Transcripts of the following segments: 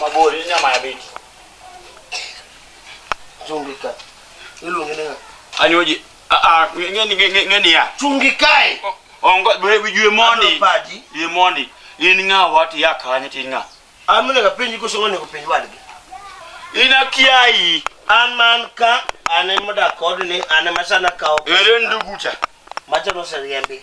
Mabori nyama ya beti. Zungika. Ilu ngene nga. Anyoje. Ah ah ngeni ngeni ya. Chungikae. Ongo bwe bijue mondi. Ye mondi. In nga wati ya kanye tin nga. Amune ka pinyi ko songo ne ko pinyi wadgi. Ina kiai. An man ka ane modak kod ni ane masana kawo. Ere ndugucha. Macha no sariembi.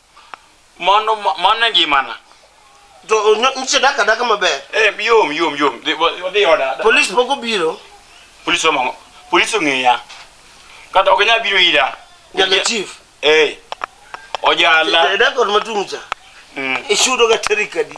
Mano ma- mano e ngimana. To onyo- nyicha dak adaka maber. Eh, yom yom yom. Dhi- wa- Wadhi oda. Polis pok obiro. Polis omo. Polis ong'eya. Kata ok nyal biro ira. Nyaka chief. Eh. Ojala. Dak ot matung' cha. Mm. Ichudo ga tarik adi?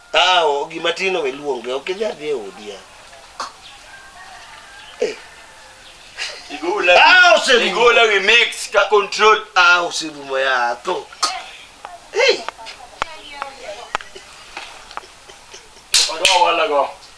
Ah, o- gima tin owe luonge, ok idhi adhi e odi ya. Igola. Ah, oserumo. Igola we mix ka control. Ah, oserumo ya tho. Hey, Odo wala go.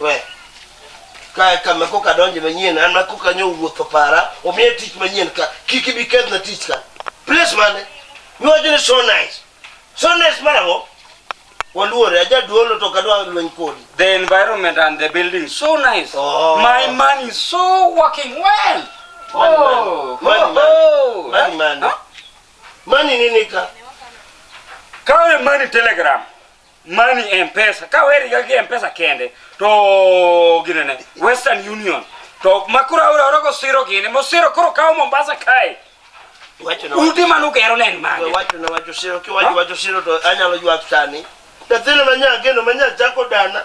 we kae kama koka donje manyien an ma koka nyo wuotho para omiye tich manyien ka kik ibi kethna tich ka place mane miwacho ni so nice so nice marang'o waluore ajaduolo to kadwa lweny kodi the environment and the building so nice oh. my man is so working well money, oh. money, money, oh. money, money. Huh? money nini ka kawe money telegram money e mpesa ka weriga gi mpesa kende to ginene western union to makoro auraorogo siro gini mosiro koro kawo mombasa kae udi mane ugero ne en mage wachona wacho siro kiwacho wacho siro to anyalo ywak sani nyathino manya ageno manya chako dana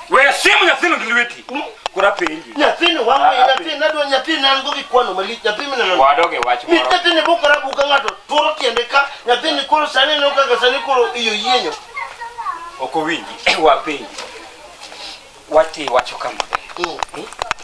Wewe simu ya sino diliweti. Hmm? Kura pengi. Ya sino wangu ah, ya sino nado ya sino nango kikwano mali ya sino nana. Wadoge wachi moro. Mita sino buka rabu kangato toro tiendeka ya sino koro sani no kaka sani koro iyo yenyo. Oko wingi wa pengi. Wati wacho kama. Mm. Hmm?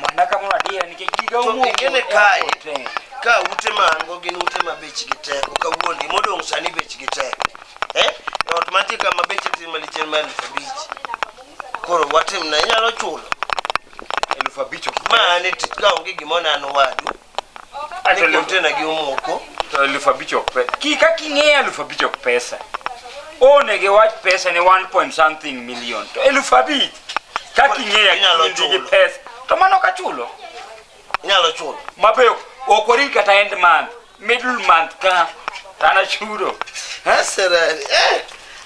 Mana ka mwa dia nikech giga To umo. ingene kae. Ka ute ma an go gin ute ma bechgi tek, ok awuondi modong' sani bechgi tek. Eh? E Ot mantie ka ma beche tin malich en ma elfu abich. Koro watim na inyalo chulo. Elfu abich ok. Ma an e tich ka onge gimoro ne an owadu. Ni container gi omoko. To elfu abich ok pe. Ki ka king'eyo elfu abich ok pesa. Onege wach pesa ni 1 point something million. To elfu abich ka king'eyo Inyalo kindi gi chulo. pesa. To mano ka chulo. Inyalo chulo. Mabeyo ok wari kata end month, middle month ka tana chudo. Asera. Eh.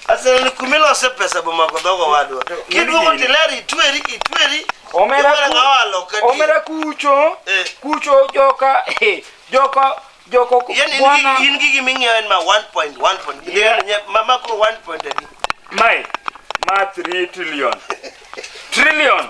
Asel ni kumilo se pesa boma ko dogo wadwa. Kiduogo tileri itweri itweri. Omera Iwera ku- ngawa loka di. omera kucho Eh. kucho joka eh, joka joko Yaani bwana in gigi ming'iewo en ma 1.1 point. Yeah. Yeah. Mama ko 1 point adi. mai ma 3 trillion trillion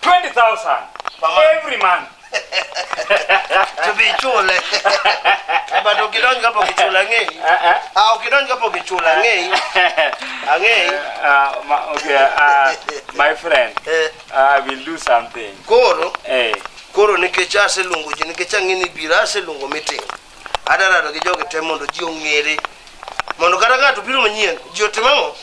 20,000 every month. to be chule but ukidonj kapok ichula ang'eyi Eh, eh. ah ukidonj kapok ichula ang'eyi ang'eyi Uh, my, okay, uh, my friend, Eh, I will do something. koro Hey, koro nikech aseluongo ji nikech ang'e ni biro aseluongo meeting Adwa rado gi jogi te mondo ji ong'ere. Mondo kata ng'ato biro manyien, ji otim ang'o?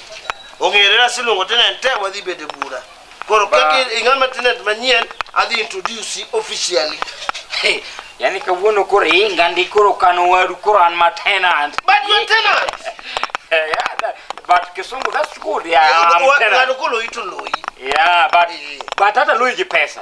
Ong'ere na siluongo tenant te wadhi bede bura. Koro Ba- kaka ing'ama tenant manyien, adhi introduce you officially. Hey, yani kawuono koro inga ndi koro kano waru koro an ma tenant But you are tenant. Eh, yeah, that- but kisungu that's good yeah, I'm Wa- tenant. Ng'ato kolo ito loyi. yeah but but hata lui gi pesa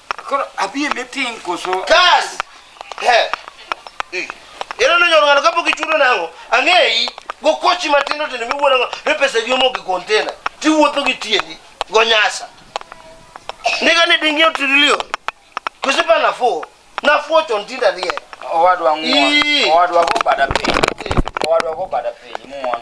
Koro abi e meeting koso? Kas! He. Eh. Ero no nyoro ngano kapok ichudo nango. Ang'eyi go kochi matindo tindo miwuono go ne pesa gi omo gi container. Ti wuotho gi tiendi go nyasa. Niga ni dingi otilio. Kusipa na fo. Na fo chon tinda die. Owadwa ng'won. Owadwa go bada piny. Owadwa go bada piny. Ng'won.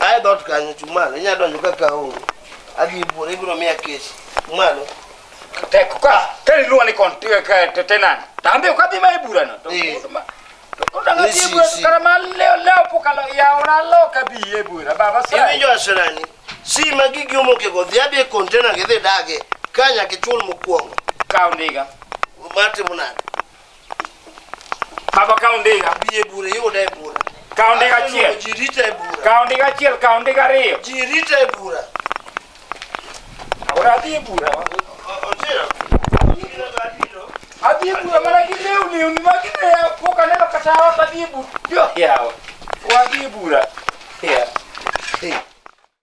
Aye dot kanyo chung' malo. Inya donjo ka ka onge. Adhi buore ibiro miya kes. Chung' malo. Tek ka ka iluwa ni kon te tenant. Tambe ka dhi ma e bura no. To Eh. ma. To ko danga Ni dhi e si- bura si. kara ma leo leo pokalo ya ora lo ka bi e bura. Baba sa. Iwinjo asirani. Si ma gigi omoke go dhi adhi e container gi dhi dage. Ka nyaka ichul mokwongo. Ka ondiga. Matimo nade? Baba ka ondiga. Biye bura yude e bura. Ka ondiga achiel. Ji rite e bura. Ka ondiga achiel, ka ondiga ariyo. Ji rite e bura. Ora adhi e bura. Ochiel. Adhi e bura mana gi lewni uni ma gineya pok aneno kata ot adhi e bura. Jo yawa. Wadhi e bura. Yeah. Hey.